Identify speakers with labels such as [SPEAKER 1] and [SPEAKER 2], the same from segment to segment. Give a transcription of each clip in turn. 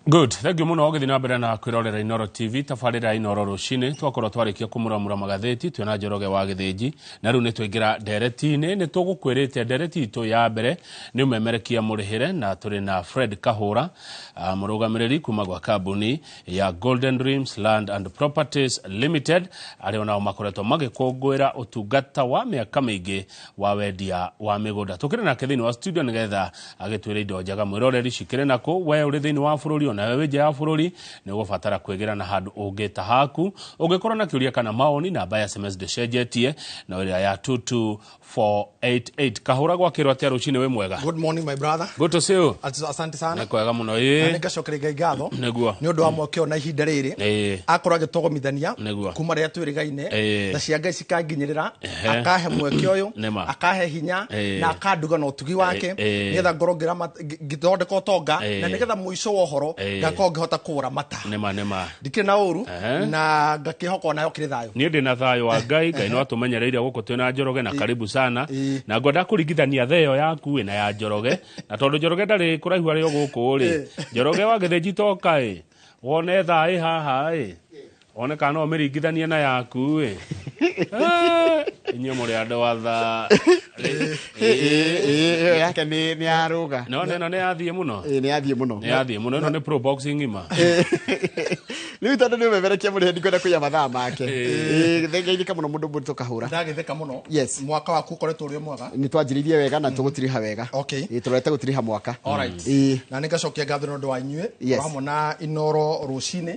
[SPEAKER 1] good thengio muno githii na mbere na kwirorera inoro tv tabarira inoro rucini twakorwo twarikia kumuramura magatheti twina njoroge wa githinji na riu ni twingira nderetini ni tugukwirite ndereti itu ya mbere ni umemerekia murihire na turi na fred kahura uh, murugamiriri kuma gwa kambuni ya golden dreams land and properties limited aria onao makoretwo magikungwira utungata wa miaka miingi wa wendia wa mĩgũnda tũkĩrĩ nake thĩinĩ wa studio nĩgetha agĩtwĩre indo njega mwĩroreri cikĩrĩ na kũ we ũrĩ thĩinĩ wa bũrũri ona we wĩ nja ya bũrũri nĩ ũgũbatara kwĩgĩra na handũ ũngĩ ta haku ũngĩkorwo na kĩũria kana maoni namba ya sms ndĩcenjetie na ĩrĩa ya 22488 kahũra gwakĩrwo atĩa rũcinĩ wĩ mwega Good morning my brother.
[SPEAKER 2] good to see you As-
[SPEAKER 1] Asante sana. nĩ kwega
[SPEAKER 2] mũno Na ĩĩ
[SPEAKER 1] nĩngacokere Ngai
[SPEAKER 2] ngatho nĩguo nĩ ũndũ wa mweke
[SPEAKER 1] ũyũ na ihinda
[SPEAKER 2] rĩrĩ Ĩĩ. akorwo agĩtũgomithania Nĩguo. kuma rĩrĩa twĩrĩgaine Ĩĩ. na cia Ngai ikanginyĩrĩra akahe mweke ũyũ Nĩma. akahe hinya Eh. na akanduga na ũtugi wake Eh, eh. nĩgetha ngorwo ngĩrama- ngĩ- ngĩthondeka ũtonga Eh. na nĩgetha mũico wa ũhoro Eh. ngakorwo ngĩhota kũũramata nema nema ndikĩrĩ na
[SPEAKER 1] ũru Ehe.
[SPEAKER 2] na ngakĩhoka onayo kĩrĩ thayũ niä ndä na thayå wa ngai
[SPEAKER 1] ngai no atå menyereire gå kå twä na njoroge na karibu sana Ĩ. na ngwenda kå ringithania the yo yaku wä na ya njoroge na tondå njoroge ndarä kå raihu arä o gå kå rä njoroge wagä thä njitoka ä wone thaä haha ä one kana no ũmĩringithanie na yaku ĩ Eh, inyuĩ mũrĩ andũ atha Ĩ- ĩ- ĩ-
[SPEAKER 3] ĩyo yake nĩ nĩ ya rũga no na ĩno nĩ yathiĩ
[SPEAKER 1] mũno Ĩ, nĩ yathiĩ mũno nĩ yathiĩ
[SPEAKER 3] mũno ĩno nĩ pro boxing
[SPEAKER 1] ng'ima
[SPEAKER 3] rĩu tondũ nĩ ũmemerekia mũrĩhe ndikwenda kũiya mathaa make Ĩ, thengainĩka mũno mũndũ mũritũ kahũra ndagĩtheka mũno Yes.
[SPEAKER 2] mwaka waku ũkoretwo
[SPEAKER 3] ũrĩ
[SPEAKER 2] mwega nĩ twanjĩrĩirie wega na
[SPEAKER 3] tũgũtiriha wega Okay. Ĩ, tũrorete gũtiriha
[SPEAKER 2] mwaka
[SPEAKER 3] Alright. Ĩ, na nä
[SPEAKER 2] ngacokia ngatho nä å ndå wa inyuä Yes. hamwe na inoro rå cinä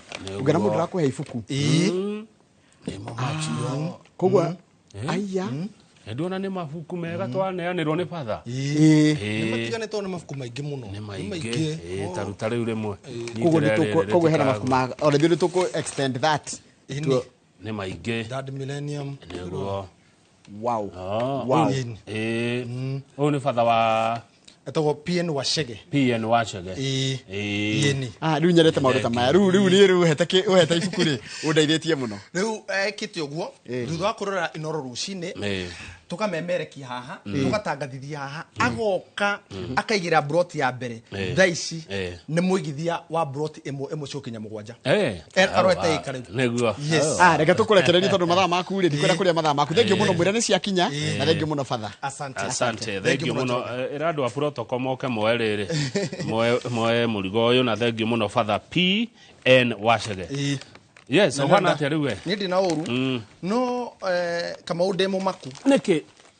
[SPEAKER 2] ngana må ndå rakå
[SPEAKER 3] he ibuku nimo
[SPEAKER 1] macio koguo Mm.
[SPEAKER 3] aiya Mm. endu ona nä
[SPEAKER 1] mabuku mega twaneanä rwo nä batha Ĩĩ. Ĩĩ. matiganĩtwo
[SPEAKER 2] nĩ mabuku maingĩ mũno nä maingä
[SPEAKER 1] Ĩĩ, ta rä u ta rä u rä mwe koguo nĩ tũkũ- koguo
[SPEAKER 3] hena mabuku ma ona ithuĩ nĩ tũkũ extend that Ĩĩ, Tuo- nĩ
[SPEAKER 1] maingä Dad Millennium.
[SPEAKER 2] nä guo
[SPEAKER 3] wow Ah, wow ũyũ- ĩĩ.
[SPEAKER 1] ũyũ nĩ batha wa etagwo pn
[SPEAKER 2] wacege pn wacege Ĩĩ. Ĩĩ.
[SPEAKER 3] yeni Ah, rĩu nyendete maũndũ ta maya rĩu rĩu niĩ rĩu ũhete kĩ- ũhete ibuku rĩ ũndeithĩtie mũno rĩu ekĩte
[SPEAKER 2] ũguo thutha wa kũrora inoro rũcinĩ Ĩĩ. tũkamemerekia haha tũgatangathithia haha agoka akaigĩra broti ya mbere Ĩĩ. thaa ici Ĩĩ. nĩ mũigithia wa broti ĩmwe ĩmwe ciũkinya mũgwanja Ĩĩ. Er- arorete ika rĩu nĩguo yes Ah,
[SPEAKER 1] reke tũkũrekererie
[SPEAKER 3] tondũ mathaa maku rĩ ndikwenda kũrĩa mathaa maku thengiũ mũno mwĩra nĩ ciakinya na thengiũ mũno batha asante asante
[SPEAKER 1] thengiũ mũno Eh, ĩra andũ a protocol moke moe rĩrĩ Moe- moe mũrigo ũyũ na thengiũ mũno father p n wacege Ĩĩ. yes ũhana atĩa rĩu we nä ndä na å ru
[SPEAKER 2] no eh, kamau ndä må maku nĩkĩ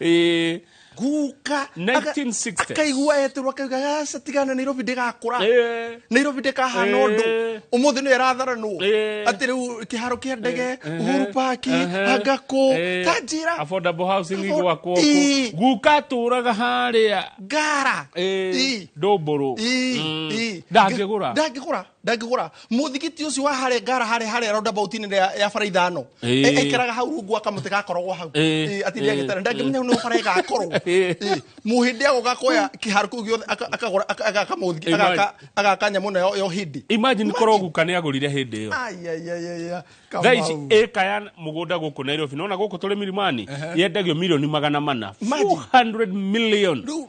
[SPEAKER 2] Eh, guka 1960s.
[SPEAKER 1] akaigua eterwo
[SPEAKER 2] akauga aca tigana nairobi ndĩgakũra eh, nairobi ndĩkahana Eh. ũndũ ũmũthĩ nĩ aratharanwo Eh. atĩ rĩu kĩharo kĩa ndege uhuru paki Ehe. angakũ Eh, tanjĩra affordable housing Afford-
[SPEAKER 1] igwakwo Ii. kũ guka tũraga harĩa ngara
[SPEAKER 2] Ii. ndũmbũrũ
[SPEAKER 1] Ii, ii. ndangĩgũra
[SPEAKER 2] ndangĩgũra ndangĩgũra mũthigiti ũcio wa harĩa ngara harĩa harĩa roundabout inĩ ya ya bara ithano Ĩĩ. E- ekĩraga hau rungu wa kamũtĩ gakoragwo hau Ĩĩ. Ĩĩ, atinde Ĩĩ. agĩtara ndangĩmenya nĩ bara ĩgakorwo Ĩĩ. Ĩĩ. mũhĩndĩ ago gakoya kĩharo kĩu gĩothe aka- akagũra aka- agaka mũthigi- Imagine. agaka- agaka nyamũ ĩno yo- yo hĩndĩ imagine korwo guka nĩ
[SPEAKER 1] agũrire hĩndĩ ĩyo Ai, ai, ai, ai, ai. thaa ici Kamau. ĩka ya mũgũnda gũkũ nairobi nona gũkũ tũrĩ mirimani yendagio milioni magana mana Imagine. 400 million Rĩu-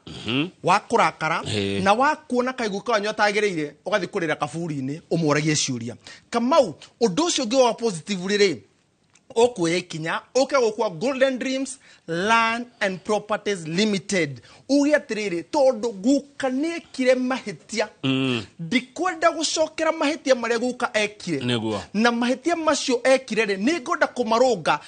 [SPEAKER 2] wa kũrakara Ĩĩ. na wa kuona kaigũ kanyu atagĩrĩire ũgathiĩ kũrĩra kaburi-inĩ ũmworagie ciũria kamau ũndũ ũcio ũngĩ wa positively rĩ ũkuoya ikinya ũke gũkua golden dreams land and properties limited uge atĩrĩrĩ tondũ guka nĩekire mahĩtia ndikwenda gũcokera mahĩtia marĩa guka ekire Nĩguo. na mahĩtia macio ekire rĩ nĩ ngwenda kũmarũnga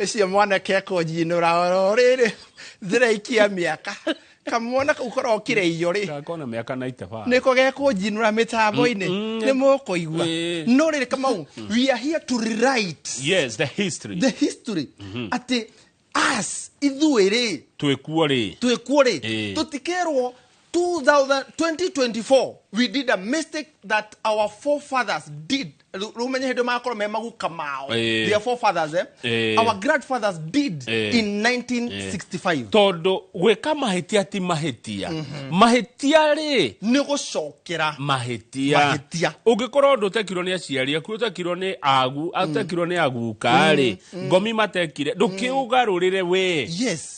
[SPEAKER 2] Ũcio mwanake ekũnjinũra oro rĩrĩ thiraikia mĩaka kamwana kau korokire iyo rĩ Gakona mĩaka na itaba.
[SPEAKER 1] niko gekũnjinũra
[SPEAKER 2] mĩtambo-inĩ nĩ mũkũigua Eh. no rĩrĩ kamau we are here to rewrite Yes, the history.
[SPEAKER 1] the history atĩ us ithuĩ rĩ Twĩkuo rĩ.
[SPEAKER 2] twĩkuo rĩ Eh. tũtikerwo 2000 2024 we did a mistake that our forefathers did rä u menye hä ndä magakorwo me maguka mao Eh. their forefathers eh? Eh. our grandfathers did Eh. in 1965 tondå gwä
[SPEAKER 1] ka mahä tia ti mahä tia mahä tia rä nä gå cokera
[SPEAKER 2] mahĩtia Mahĩtia.
[SPEAKER 1] ũngĩkorwo ndå tekirwo nĩ aciari aku ũtekirwo nĩ agu atekirwo nĩ aguka rĩ ngomi matekire ndũkĩũgarũrĩre we yes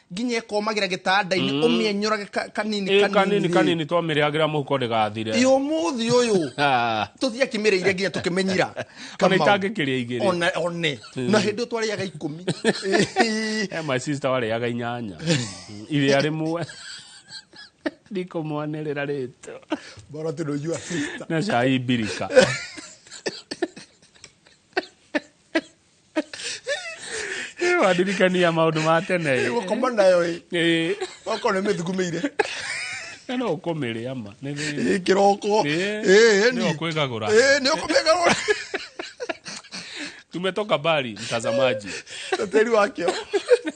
[SPEAKER 2] nginya ĩkomagĩra gĩtanda-inĩ mm. ũmĩenyũrage kanini kanini kanini twamĩrĩagĩra mũhuko
[SPEAKER 1] ndĩgathire ĩ ũmũthĩ ũyũ
[SPEAKER 2] tũtiakĩmĩrĩire nginya tũkĩmenyira ona itangĩkĩrĩa
[SPEAKER 1] igĩrĩ one one na mm.
[SPEAKER 2] hĩndĩ twarĩaga ikũmi my sister warĩaga
[SPEAKER 1] inyanya iria rĩmwe ndikumwanĩrĩra rĩtũ bora tũnũjua
[SPEAKER 2] na cai mbirika
[SPEAKER 1] wandirikania maundu ma tene ĩ. gũkoma nayo
[SPEAKER 2] ĩ Ĩ, okorwo nĩ mĩthugumĩire na
[SPEAKER 1] no ũkũmĩrĩa ma Nĩ- nĩ- ĩ kĩroko
[SPEAKER 2] Ĩ, ĩ nĩ ĩni
[SPEAKER 1] ũkwĩgagũra ĩ nĩ ũkũmĩaga rũra
[SPEAKER 2] tumetoka mbali
[SPEAKER 1] mtazamaji na tĩri
[SPEAKER 2] wakĩo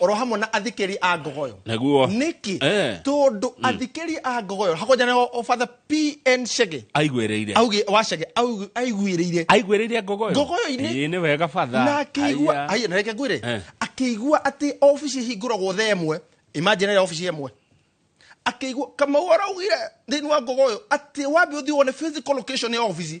[SPEAKER 2] oro hamwe na athikiri a ngogoyo Naguo. niki Eh. tondu athikiri a ngogoyo hakonjane obatha pn shege aigwĩrĩire auge
[SPEAKER 1] wa shege
[SPEAKER 2] auge- aiguĩrĩire aigwĩrĩire ngogoyo
[SPEAKER 1] Ngogoyo-inĩ? Ĩĩ, nĩ wega
[SPEAKER 2] batha
[SPEAKER 1] na akĩigua Aya. aya
[SPEAKER 2] na reke ngwĩre Eh. akĩigua atĩ obici hingũragwo tha ĩmwe imagine ĩrĩa obici ĩmwe akĩigua kamau araugire thĩinĩ wa ngogoyo atĩ wambe ũthiĩ wone physical location ya obici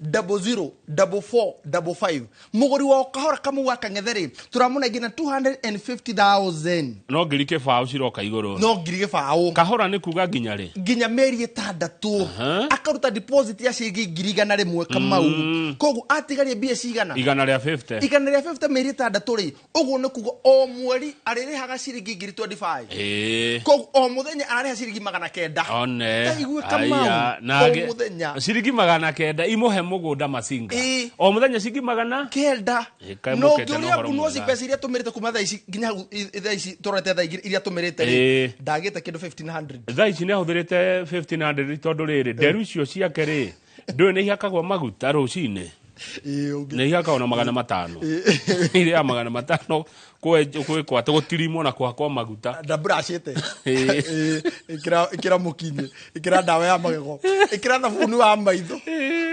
[SPEAKER 2] double zero double four double five mũgũri wa kahora kamũ wa kang'ethe rĩ tũramũnengi na 250000 no ngiri
[SPEAKER 1] kĩbaũ ciroka igũrũ no ngiri gĩbaũ
[SPEAKER 2] kahora nĩ kuga nginya
[SPEAKER 1] rĩ nginya mĩeri ĩtandatũ
[SPEAKER 2] Aha. akaruta deposit ya ciringi ngiri igana rĩmwe kamau koguo atigaria mbia cigana igana rĩa 50 igana rĩa
[SPEAKER 1] 50 mĩeri ĩtandatũ rĩ
[SPEAKER 2] ũguo nĩ kuga o mweri arĩrĩhaga ciringi ngiri 25 Eh. koguo o mũthenya ararĩha ciringi magana kenda one Ndaigua
[SPEAKER 1] Kamau, Aya,
[SPEAKER 2] na o angĩ- mũthenya. ciringi magana kenda
[SPEAKER 1] imũhe mũgũnda macinga Ĩ. o mũthenya ciringi magana kenda Eh, kaĩ no mũkete na ngĩũria
[SPEAKER 2] ũhoro ngunuoci mwega. mbeca iria tũmĩrĩte kuma thaa ici nginya hau i- i- thaa ici tũrorete thaa ingĩ iria tũmĩrĩte Ĩ. rĩ ndagĩte kĩndũ 1500 thaa ici nä ahå thä rä te
[SPEAKER 1] tondå rä rä nderu icio ciake rä ndå nä ihakagwo maguta rå cinä Ĩĩ, ũngĩ- nä ihakagwo na magana matano irä ya magana matano kwä kwatå gå tirimwo na kwakwo maguta ndabracite
[SPEAKER 2] Ĩĩ. ikira mukinyi ikira ndawa ya magego ikira thabuni wa maitho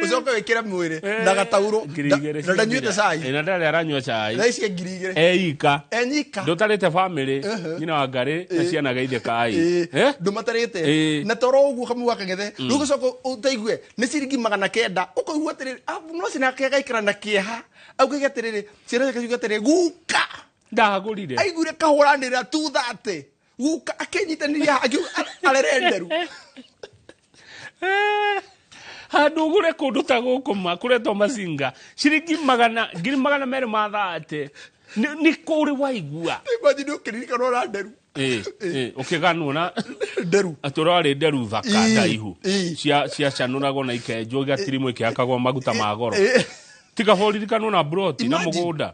[SPEAKER 2] ucoke wikire mwiri na gatauro Ngiri igĩrĩ cia ndanyuite mbira. cai Ĩ, na ndarä aranyua cai
[SPEAKER 1] thaa ici ngiri igĩrĩ
[SPEAKER 2] eika enyika
[SPEAKER 1] ndũtarĩte
[SPEAKER 2] bamĩrĩ
[SPEAKER 1] nyina wa ngarĩ na ciana geithĩkai Ĩĩ, Eh? ndũ matarĩte Ĩĩ.
[SPEAKER 2] na toro ũguo kamwe gwa kang'ethe rĩu gũcoka ũtaigue nĩ ciringi magana kenda ũkaigua atĩrĩrĩ "Ah, no cina kegaikara na kĩeha augage atĩrĩrĩ ciana ciake ciuge atĩrĩrĩ guka ndahagũrire
[SPEAKER 1] aiguire kahũranĩra
[SPEAKER 2] tu thate guka akĩnyitanĩria akiuga arerenderu
[SPEAKER 1] Eh, handå gå re kå ndå ta gå kå ma kå retwo macinga ciringi magana ngiri magana merä ma thate nä kå rä waigua imagine ũkĩririkana
[SPEAKER 2] ũra nderu å kä
[SPEAKER 1] ganwo na nderu atå
[SPEAKER 2] rarä nderu
[SPEAKER 1] thaka Ii, ndaihu ii. cia cia canå ragwo na ikenjwo igatirimå ikäakagwo maguta ma goro Ĩ, tiga hå ririkanwo na broti na må Imagine. gå nda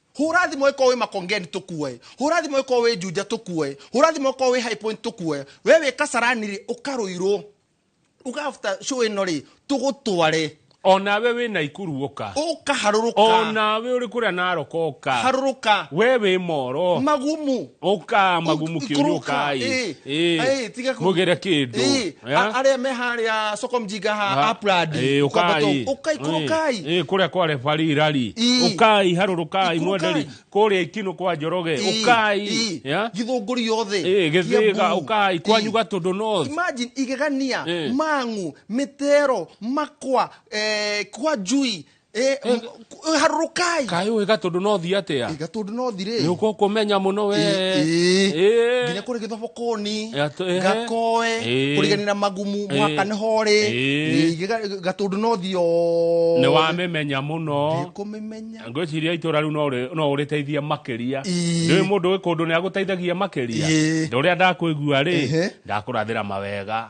[SPEAKER 2] Hũra thimo ĩkorwo wĩ makongeni tũkuoe. Hũra thimo ĩkorwo wĩ njunja tũkuoe. Hũra thimo ĩkorwo wĩ high point tũkuoe. We wĩ kasarani rĩ ũkarũirwo. Uga after show ĩno rĩ tũgũtware. Onawe wĩ
[SPEAKER 1] Naikuru ũka. Ũka harũrũka.
[SPEAKER 2] Onawe ũrĩ
[SPEAKER 1] kũrĩa Narok ũka. Harũrũka. We
[SPEAKER 2] wĩ Moro.
[SPEAKER 1] Magumu. ũka
[SPEAKER 2] magumukio
[SPEAKER 1] nĩ ũkai Eh, eh,
[SPEAKER 2] tiga kũ- mũgere kĩndũ
[SPEAKER 1] Eh, Eh? a- arĩa me
[SPEAKER 2] harĩa soko mjinga Ha- ha aprad eh, ũkai ukai kurukai Eh, eh, kũrĩa kwa refari
[SPEAKER 1] rari Ii. ũkai harũrũkai Ikurukai. mwenderi kũrĩa ikinũ kwa njoroge ũkai Ya? githunguri
[SPEAKER 2] yothe Eh, gĩthĩga Kiambu. ũkai
[SPEAKER 1] kwanyu Ii. gatũndũ north imagine igegania
[SPEAKER 2] Eh. mang'u mĩtero makwa eh, kwa njui Eh, Eh. m- harũrũkai kaĩ ũĩ gatũndũ
[SPEAKER 1] no thi atĩa Ĩ, gatũndũ no thirĩ nĩ ũkũ
[SPEAKER 2] kũmenya
[SPEAKER 1] mũno we Ĩ, ĩ. Ĩ. nginya
[SPEAKER 2] kå rä gä thobokoni Ya, tũ- ehe. gakoe Ĩ. kå riganä na magumu Ĩ. mwaka nä horä Ĩ. gatå ndå no thio nĩ
[SPEAKER 1] wamĩmenya mũno kå mä menya ngwĩciria
[SPEAKER 2] itũra rĩu no
[SPEAKER 1] rĩ- no ũrĩteithie makĩria Ĩ. ndĩwĩ mũndũ wĩ kũndũ nĩ agũteithagia makĩria Ĩ. ndĩ ũrĩa ndakwĩgua rĩ Ehe. ndakũrathĩra mawega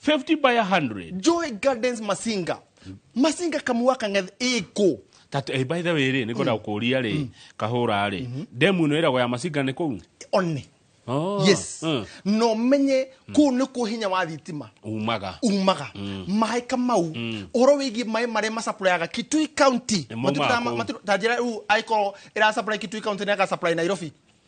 [SPEAKER 1] 50 by 100. Joy Gardens
[SPEAKER 2] Masinga. Masinga Kamuwaka ng'eth ĩkũ. That, eh, by the way
[SPEAKER 1] rĩ nĩ ngwenda gũkũria rĩ kahũra rĩ ndemu ĩno ĩragwo ya macinga nĩ kũu One.
[SPEAKER 2] Oh, Yes. mm, Na ũmenye kũu nĩkuo hinya wa thitima umaga umaga
[SPEAKER 1] maĩ
[SPEAKER 2] kamau ũhoro wĩgiĩ maĩ marĩa macapurayaga kitui county Nĩmo Matiũkaga ma- makũ. matiũ- ta njĩra rĩu angĩkorwo ĩracapurae kitui county nĩagacapurae nairobi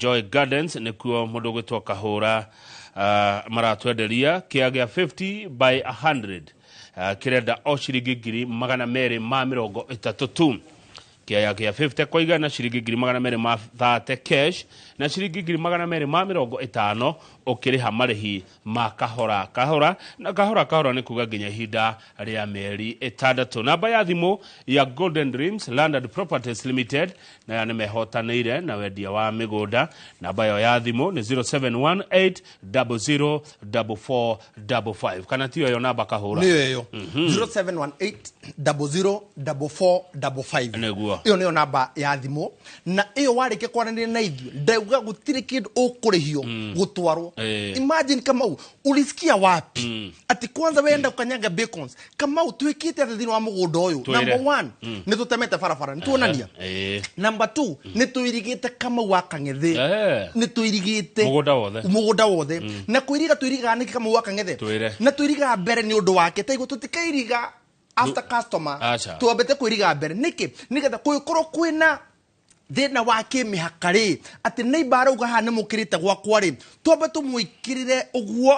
[SPEAKER 1] Joy Gardens nĩkuo mũndũ gwĩtwo Kahũra uh, maratwenderia kĩa gĩa 50 by 100 uh, kĩrenda o ciringi ngiri magana merĩ ma mĩrongo ĩtatũ tu kĩaya gĩa 50 kwa igana ciringi ngiri magana merĩ ma 30 cash na ciringi ngiri magana merĩ ma mĩrongo ĩtano ũkĩrĩha marĩhi ma kahora kahora na kahora kahora nĩ kuga nginya ihinda rĩa mĩeri ĩtandatũ namba ya thimũ ya golden dreams landed properties limited na ya nĩ mehotanĩire na wendia wa mĩgũnda namba yo ya thimũ nĩ 0718004455 kana tiyo yo namba kahũra nĩyo ĩyo
[SPEAKER 2] 0718004455 Nĩguo. ĩyo nĩyo namba ya thimũ na ĩyo warĩkia kwaranĩria na ithuĩ ndauga gũtirĩ kĩndũ ũkũrĩhio gũtwarwo Eh. imagine kamau ulisikia wapi ati kwanza wenda kukanyanga bacons kamau twĩkĩte atĩ thĩinĩ wa mũgũnda ũyũ Twĩre. number one nĩ tũtemete barabara nĩ tuonania Eh. number two nĩ tũirigĩte kamau wa kang'ethĩ Eh. nĩ tũirigĩte Mũgũnda wothe. mũgũnda wothe na kwĩriga twĩrigaga nĩkĩ kamau wa kang'ethe Twĩre. na twĩrigaga mbere nĩ ũndũ wake taiguo tũtikairiga after customer Acha. twambete kwiriga mbere niki nigetha kugikorwo kwina thina wa kimihaka ri ati neighbor arauga haha ni mukirite gwakwa ri twambe tumwikirire uguo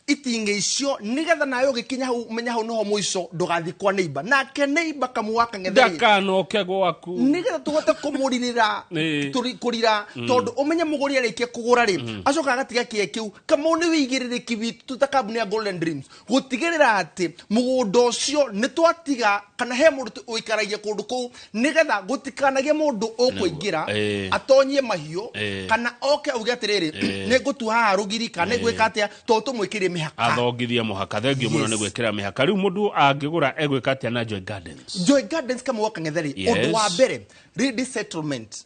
[SPEAKER 2] iting'i icio nigetha nawe ugikinya hau umenya hau niho muico ndugathi kwa neighbor nake neighbor kamua kang'etheri ndakanoke gwaku
[SPEAKER 1] nigetha tuhote
[SPEAKER 2] kumuririra Ĩĩ. tũri- kũrira tondũ ũmenye mũgũri arĩkia kũgũra rĩ acoka agatiga kĩe kĩu kamau nĩ wĩigĩrĩrĩki witũ tũta kambuni ya golden dreams gũtigĩrĩra atĩ mũgũnda ũcio nĩ twatiga kana he mũndũ tu ũikaragia kũndũ kũu nĩgetha gũtikanagĩe mũndũ ũkũingĩra Ĩĩ. atonyie mahiũ Ĩĩ. kana oke auge atĩrĩrĩ nĩ ngũtua haha rũgiri kana nĩ ngwĩka atĩa to tũmwĩkĩrie mĩhaka athongithia mũhaka
[SPEAKER 1] thengio mũno Yes. nĩ gwĩkĩra mĩhaka rĩu mũndũ angĩgũra egwĩka atĩa na joy gardens Joy Gardens kamwe gwa kang'ethe rĩ Yes. ũndũ wa mbere ready settlement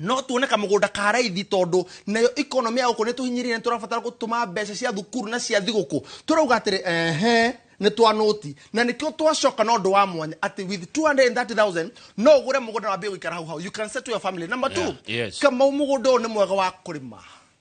[SPEAKER 1] no tuone kamũgũnda ka raithi tondũ nayo economy ya gũkũ nĩ tũhinyĩrĩire nĩ tũrabatara gũtũma mbeca cia thukuru na cia thigũkũ tũrauga atĩrĩ ehe nĩ twa noti na nĩkĩo twacoka na ũndũ wa mwanya atĩ with 230000 no ũgũre mũgũnda wambie gũikara hau hau you can settle your family number two Yeah, yes. kamau mũgũnda ũyũ nĩ mwega wa kũrĩma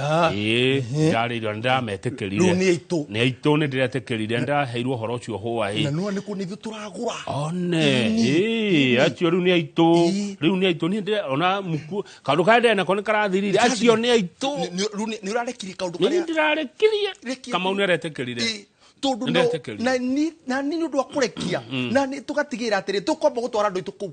[SPEAKER 1] Ah. ĩĩ ndarĩ irio nĩ ndĩrametĩkĩrire Rĩu nĩ aitũ. nĩ aitũ nĩ ndĩretĩkĩrire ndaheirwo ũhoro ũcio hũa ĩ na nua nä kå nä ithuä tå
[SPEAKER 2] ragå ra one
[SPEAKER 1] ĩĩ, acio rĩu nĩ aitũ Ĩĩ. rĩu nĩ aitũ niĩ ndĩre- ona muku kaũndå karĩa ndĩrenda ko nĩ karathirire acio nĩ aitũ nä å rarekire
[SPEAKER 2] kaå ndå nĩ karä ndĩrarekirie Rekia.
[SPEAKER 1] kamau nĩ aretĩkĩrire tondå
[SPEAKER 2] Nĩndetĩkĩrire. na ni nä å ndå wa kå rekia na nä tå gatigä rä ra atä rä tå komba gå twara andå aitå kå u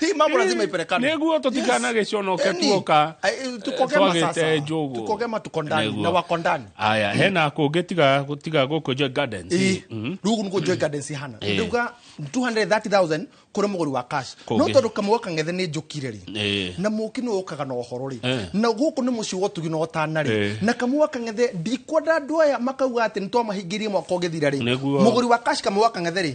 [SPEAKER 2] Hii mambo lazima ipelekane. Nĩguo tũtikanage
[SPEAKER 1] conoke Yaani, tuoka, eh, eh, tukogema twagĩte
[SPEAKER 2] sasa. njũgũ. Tukogema tuko ndani Nĩguo. na wako ndani. aya hena kũngĩ
[SPEAKER 1] tiga tiga gũkũ Joy Gardens Ĩ, rĩu gũkũ nĩkuo Joy
[SPEAKER 2] Gardens ihana. Ĩ. Ndauga 230,000 kũrĩ mũgũri wa cash. Kũngĩ. No tondũ kamũgwa kang'ethe nĩ njũkire rĩ. Ĩ. Na mũki nĩ ũkaga na ũhoro rĩ. Ĩ. Na gũkũ nĩ mũciĩ wa ũtugi na ũtana rĩ. Ĩ. Na kamũgwa kang'ethe ndikwenda andũ aya makauga atĩ nĩ twamahingĩirie mwaka ũgĩthira rĩ. Nĩguo. Mũgũri wa cash kamũgwa kang'ethe rĩ.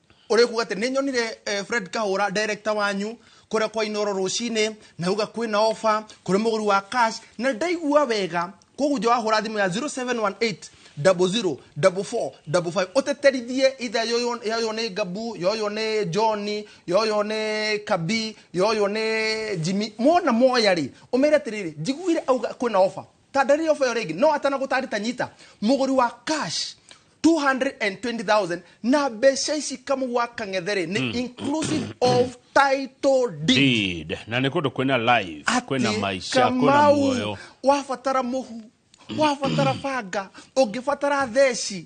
[SPEAKER 2] ũrĩkuga atĩ nĩnyonire eh, fred kahũra director wanyu kũrĩa kwa inoro rũcinĩ na uga kwĩna ofa kũrĩ mũgũri wa cash na ndaigua wega koguo nja wahũra thimũ ya 0718 00 44 55 ũteterithie itha yoyo yoyo nĩ gabu yoyo nĩ johni yoyo nĩ kabi yoyo nĩ jimi mona moya rĩ ũmere atĩrĩrĩ njiguire auga kwĩna ofa Ta ndarĩria ũbeo rĩngĩ. No atana gũtarĩta nyita mũgũri wa cash 220,000 na mbeca ici kamu gwa kang'ethere nĩ hmm. inclusive of title deed. Deed. Na nĩ kũndũ kwĩna
[SPEAKER 1] live, kwĩna maica, kwĩna muoyo. Wabatara mũhu
[SPEAKER 2] wabatara banga ũngĩbatara theci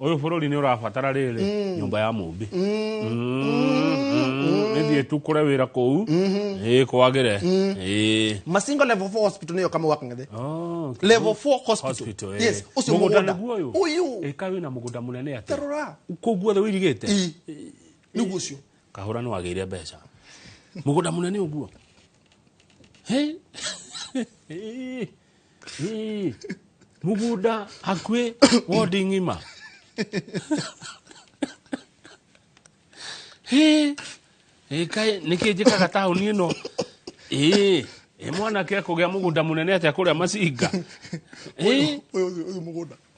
[SPEAKER 1] Ũyũ bũrũri nĩ ũrabatara rĩrĩ mm. nyũmba ya mũmbi nithiĩ tu kũre wĩra kũu ĩ kwagĩre ĩ
[SPEAKER 2] masingo level 4 hospital nĩyo kama wakang'ethe Oh, okay. level 4 hospital Hospital, eh. yes ũcio Mũgũnda mũgũnda nĩguo ũyũ? ũyũ Ĩ, kaĩ wĩna mũgũnda mũnene
[SPEAKER 1] atĩa tarora kũu guothe
[SPEAKER 2] wĩirigĩte
[SPEAKER 1] Ĩ, nĩguo
[SPEAKER 2] ũcio kahũra nĩ wagĩire
[SPEAKER 1] mbeca mũgũnda mũnene ũguo Hĩ? Hĩ. Ĩĩ, mũgũnda hakuhĩ wondi ng'ima Hĩ, ĩ kaĩ nĩkĩ njĩkaga taũni ĩno ĩĩ ĩ mwanake ekũgĩa mũgũnda mũnene atĩa kũrĩa macinga Ĩĩ,
[SPEAKER 2] Ũyũ ũyũ mũgũnda.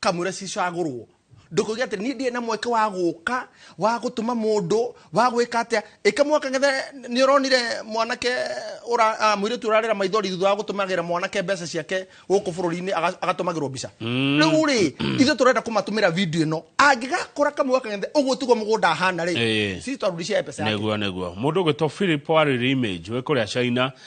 [SPEAKER 2] kamwĩre cicagũrwo ndũkauge atĩ niĩ ndirĩ na mweke wa gũka wa gũtũma mũndũ wa gwĩka atĩa ĩka mwaka gethe nĩ ũronire mwanake ũra- ah, mũirĩtu ũrarĩra maithori thutha wa gũtũmagĩra mwanake mbeca ciake gũkũ bũrũri-inĩ aga- agatũmagĩrwo mbica rĩu rĩ ithuĩ tũrenda kũmatũmĩra video ĩno angĩgakũra kamwe gaka gethe ũguo tiguo mũgũnda ahana rĩ Ĩĩ. sisi twarudishia pesa yake nĩguo nĩguo mũndũ ũgwĩtwo
[SPEAKER 1] philip warĩrĩ image wĩ kũrĩa china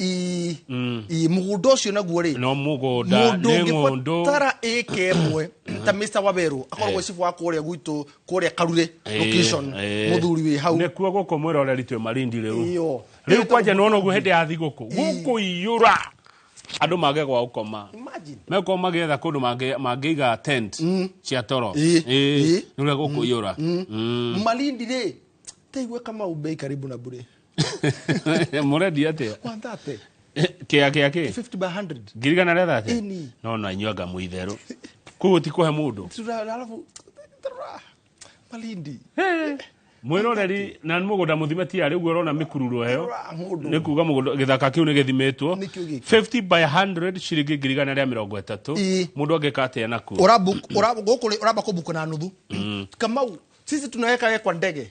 [SPEAKER 2] ii ii mũgũnda ũcio naguo rĩ no mũgũnda mũndũ
[SPEAKER 1] nĩ ng'ũndũ ũngĩbatara ĩka
[SPEAKER 2] ĩmwe ta mr waberu akoragwo cibu wa kũrĩa gwitũ kũrĩa karure Eh, location eh. mũthuri wĩ hau nĩkuo gũkũ mwĩroreri
[SPEAKER 1] twĩ marindi rĩu Iyo. rĩu kwanja nĩwona ũguo hĩndĩ ya thigũkũ gũkũiyũra andũ mage gwa gũkoma Imagine. mekorwo magĩetha kũndũ mangĩ- mangĩiga tent cia toro Ĩ, ĩ. nĩũrĩa gũkũiyũra Mm. malindi
[SPEAKER 2] rĩ taigua kama umbei karibu na bure
[SPEAKER 1] murendia atia 130
[SPEAKER 2] kia kia
[SPEAKER 1] ki 50 by 100
[SPEAKER 2] ngiri gana rĩa thate
[SPEAKER 1] Ĩni. no no anyuanga mu itherũ koguo ti kũhe mũndũ Tura- alafu
[SPEAKER 2] tura- malindi mwiroreri
[SPEAKER 1] na mũgũnda mũthime ti arĩ guo ũrona mĩkururu heyo Tura mũndũ. nĩ kuga mũgũnda gĩthaka kĩu nĩ gĩthimĩtwo Nĩkĩo gĩkĩ. 50 by 100 ciringi ngiri gana rĩa mĩrongo ĩtatũ Ĩ. mũndũ angĩka atĩa nakuo Ora book- ora- gũkũ rĩ- uramba kubuku na nuthu kamau sisi tunaweka we kwa ndege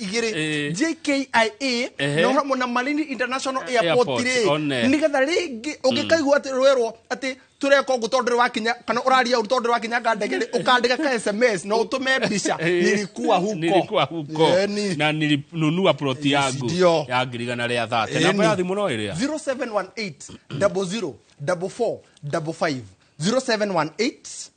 [SPEAKER 2] igiri Eh. JKIA Ehe. no hamwe na Malindi International Airport Airport, ri one. nigetha ringi ungikaigua ati rwerwo ati tureka ugu tondu wakinya kana uraria uru tondu wakinya nga ndege ri ukandika ka SMS na utume mbica Eh, nilikuwa huko nilikuwa huko Eh, ni- na
[SPEAKER 1] nilinunua ploti Yes, yangu ndio. ya ngirigana rĩa thate Eh, namba ni- ya thimũ no ĩrĩa 0718 00 44 55
[SPEAKER 2] 0718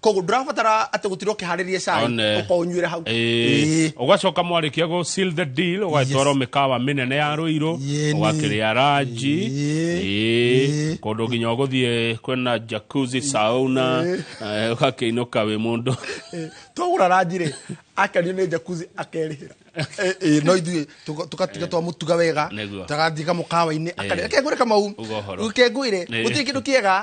[SPEAKER 2] koguo ndũrabatara atĩ gũtirwo ũkĩharĩrie cai One. ũkaũnyuĩra hau Ĩĩ. ugacoka
[SPEAKER 1] mwarĩkia gå seal the deal ũgatwarwo Yes. mĩkawa mĩnene ya rũirũ Yeni. ũgakĩrĩa ranji Ĩĩ. Ĩĩ. Ĩĩ. kũndũ nginya ũgũthiĩ kwĩna jakuzi sauna eh, ũgakĩinũka wĩ mũndũ Ĩĩ. twagũra
[SPEAKER 2] ranjirĩ akenio nĩ jakuzi akerĩhĩra Ĩĩ, ĩĩ, no ithuĩ tũka- tũgatiga twamũtuga wega Nĩguo. tagathiĩ kamũkawa-inĩ Ĩĩ. akekũrĩ kamau Uga ũhoro. kengũire Ĩĩ. gũtirĩ kĩndũ kĩega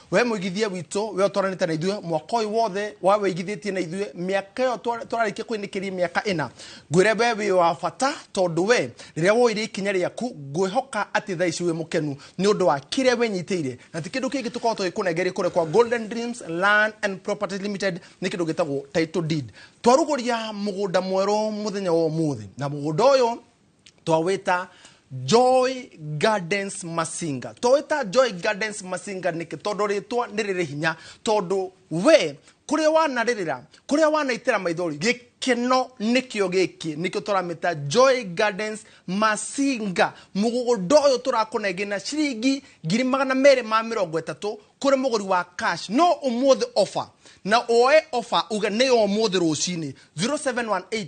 [SPEAKER 2] we mũigithia witũ we ũtwaranĩte na ithuĩ mwaka ũyũ wothe wa wĩigithĩtie na ithuĩ mĩaka ĩyo twa- tũrarĩkia kwĩnĩkĩria mĩaka ĩna ngwĩre we wĩ wa bata tondũ we rĩrĩa woire ikinya rĩaku ngwĩhoka atĩ thaa ici wĩ mũkenu nĩ ũndũ wa kĩrĩa wĩnyitĩire na ti kĩndũ kĩngĩ tũkorwo tũgĩkũnengere kũrĩa kwa golden dreams land and properties limited nĩ kĩndũ gĩtagwo title deed twarugũria mũgũnda mwerũ mũthenya wa ũmũthĩ na mũgũnda ũyũ twawĩta joy gardens masinga twawĩta joy gardens masinga nĩkĩ tondũ rĩtwa nĩ rĩrĩ hinya tondũ we kũrĩa wanarĩrĩra kũrĩa wanaitĩra maithori gĩkeno nĩkĩo gĩkĩ nĩkĩo tũramĩta joy gardens masinga mũgũgũnda ũyũ tũrakũnengĩ na ciringi ngiri magana merĩ ma mĩrongo ĩtatũ kũrĩ mũgũri wa cash no ũmũthĩ ofa na woe ofa uge nĩ ya ũmũthĩ rũcinĩ 0718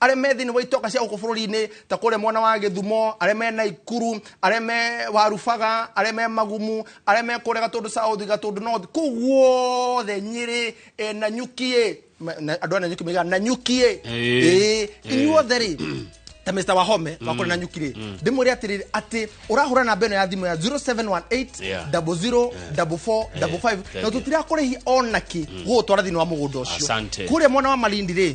[SPEAKER 2] arĩa me thĩinĩ wa itoka cia gũkũ bũrũri-inĩ ta kũrĩa mwena wa gĩthumo arĩa me naikuru arĩa me warubaga arĩa me magumu arĩa me kũrĩa gatũndũ south gatũndũ north kũu guothe nyĩrĩ eh, na nyukiĩ Ma- na- andũ a na nyuki maigaga na nyukiĩ Ĩĩ. Ĩĩ. inyuothe rĩ ta mr wahome wa kũrĩa na nyuki rĩ ndĩmwĩre atĩrĩrĩ atĩ ũrahũra namba ĩno ya thimũ ya 0718 Yeah. 00 44 55 na thank you. tũtirakũrĩhi onaki gũgũtwara thĩinĩ wa mũgũnda ũcio Asante. kũrĩa mwena wa malindi rĩ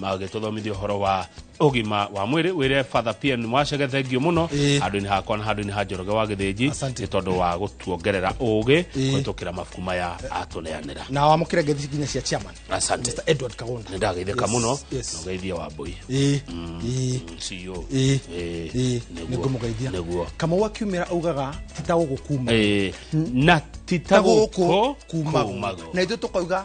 [SPEAKER 1] magĩtũthomithia ũhoro wa ũgima wa mwĩrĩ wĩre father pn mwacege thengio mũno Ĩĩ. handũ-inĩ hakwa na handũ-inĩ ha njoroge wa gĩthĩnji Asante. nĩ tondũ wa gũtuongerera ũũgĩ Ĩĩ. kũhĩtũkĩra mabuku maya atũneanĩra na wamũkĩre ngethi
[SPEAKER 2] nginya cia chairman asante Mr. Edward
[SPEAKER 1] Kagonda nĩ
[SPEAKER 2] ndageithĩka Yes, mũno
[SPEAKER 1] yes. na ũgeithia wa mbũi Ĩĩ, ĩĩ, CEO. ĩĩ, Ĩĩ, ĩĩ, nĩguo,
[SPEAKER 2] nĩngũmũgeithia nĩguo. kamau akiumĩra augaga titagũgũkuma Ĩĩ, na
[SPEAKER 1] titagũkũ kumago na ithuĩ tũkauga